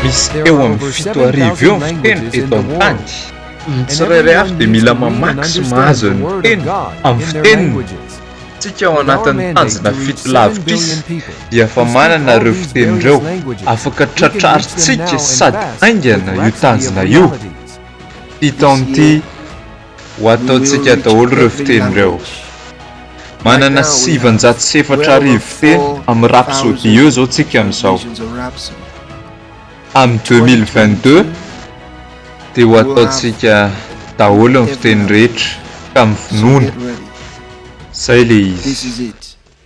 Misy eo amin'ny fito arivo eo ny fiteny eto an-tany. Ny tsirairay avy dia mila mamaky sy mahazo ny teny amin'ny fiteniny. Isika ao anatin'ny tanjona fito lavitrisa dia efa manana ireo fiteny ireo, afaka tratrarintsika sady haingana io tanjona io. Fito amin'ity. Ho ataontsika daholo ireo fiteny ireo. Manana sivinjato sy efatra arivo fiteny amin'ny rapsody eo izao tsika amin'izao. Amin'ny deux mille vingt deux dia ho ataontsika daholo ny fiteny rehetra ka mivonona. Izay ilay izy.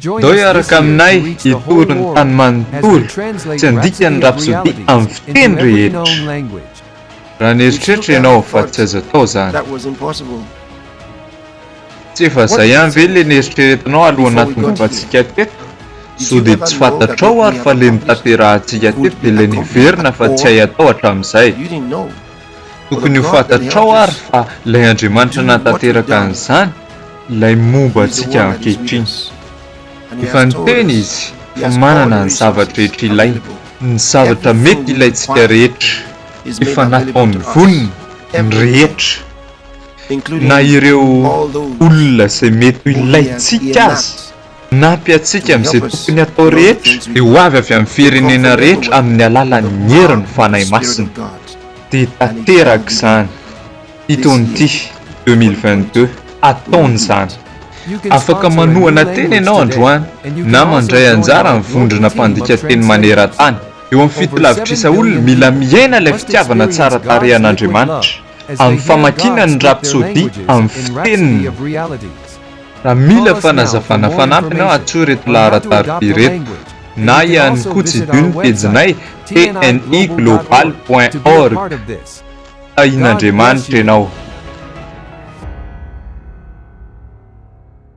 Doi araka aminay hitory ny tany manontolo tsy handika ny rapsody amin'ny fiteny rehetra. Raha nieritreritra ianao fa tsy azo atao izany. Tsy efa izay ihany ve ilay neritreretinao alohan'ny nahatongavantsika teto? Sao dia tsy fantatrao ary fa ilay notanterahantsika teto dia ilay niverina fa tsy hay atao hatramin'izay? Tokony ho fantatrao ary fa ilay Andriamanitra nahatanteraka an'izany ilay momba antsika ankehitriny. Efa niteny Izy fa manana ny zava-drehetra ilaina, ny zavatra mety ilaintsika rehetra. Efa nataony vonona ny rehetra, na ireo olona izay mety ho ilaintsika aza. Manampy antsika amin'izay tokony hatao rehetra ny ho avy avy amin'ny firenena rehetra amin'ny alalan'ny herin'ny Fanahy Masina. Dia tanteraka izany. Ito ny ity, deux mille vingt-deux, ataony izany. Afaka manohana tena ianao androany na mandray anjara amin'ny vondrona mpandika teny maneran-tany. Eo amin'ny fitilavitrisa olona, mila miaina ilay fitiavana tsara tarehy an'Andriamanitra amin'ny famakiana ny Rapsodia amin'ny fiteniny. Raha mila fanazavana fanampiny aho atsoy ireto laharan-tarika ireto na ihany koa tsidiho ny pejinay tni global point org. Tahian'Andriamanitra ianao.